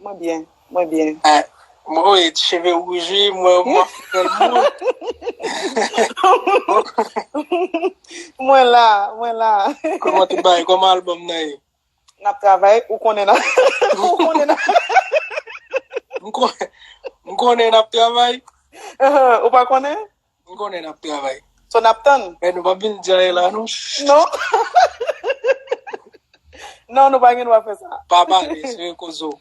Mwen byen, mwen byen. Mwen wè cheve wouj wi, mwen wè mwen fèl moun. Mwen la, mwen la. Koman tout bagay, koman album nan ye? Nap travay, ou konnen nan. Ou konnen nan. M konnen nap travay. Ou pa konnen? M konnen nap travay. So nap tann? Men nou pap vin djaye la non. Non. Non nou pa gen dwa fè sa. Pa pale sou yon koz ou.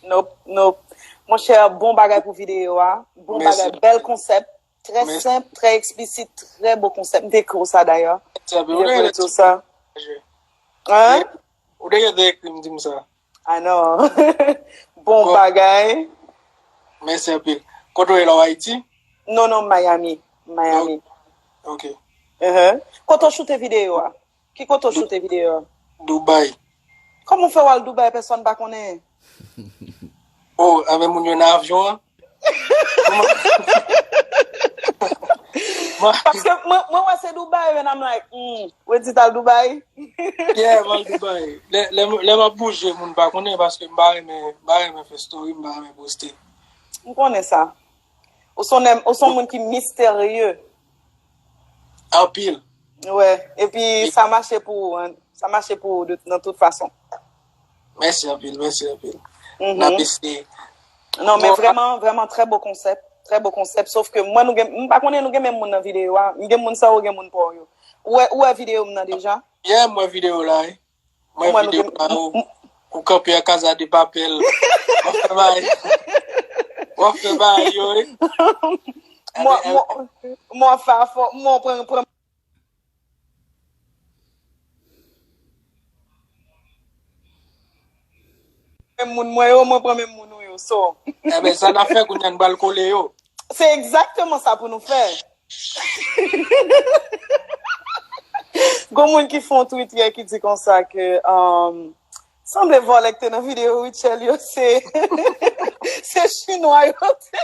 Nop, nop. Mon chè bon bagay pou videyo a. Bon bagay, bèl konsèp. Trè senp, trè eksplisit, trè bon konsèp. M te ekri w sa dayè. Mwen te ekri w sa. Hein? Ou te gen tan ekri m di m sa. Ah non. bon bagay. Mèsi anpil. Kote ou ye la ou Ayiti? Non non Miami. Miami. Ok. Kote ou choute videyo a? Ki kote ou choute videyo a? Dubai. Kòman ou fè ou al Dubai pèsòn pa konnen? Oh, anmen moun yo nan avyon an? Paske mwen wè se Dubai and I'm like, hmm, Wendy tal Dubai? Yeah, mwen al Dubai. Lè mwen bouje, moun pa konnen paske mwen pa renmen fè story, mwen pa renmen poste. Mwen konnen sa. Ou son moun ki misterye. Anpil. Wè, epi sa mache pou ou, sa mache pou ou nan tout fason. Mèsi anpil, mèsi anpil. N ap eseye. Non men vrèman, vrèman trè bon konsèp, trè bon konsèp, sof ke mwen nou gen, m pa konnen nou gen menm moun nan videyo a, m gen moun sa ou gen moun pa w yo. Ou wè, ou wè videyo m nan deja? Yeah, m wè videyo w la wi. M wè videyo w la ou, ou kanpe an Casa de Papel. W ap fè bagay, w ap fè bagay yo wi. M wè, m wè, m wè w ap fè afè w, m wè w pran, pran. Menm moun mwen yo, mwen pran menm moun ou yo, so. Enben, sa n ap fè kounye a, n pral kole yo. Se egzakteman sa pou nou fè. Gon moun ki fè yon twit yè ki di konsa ke, sanble vòlè ki te nan videyo Rutshelle yo se chinwa yo te.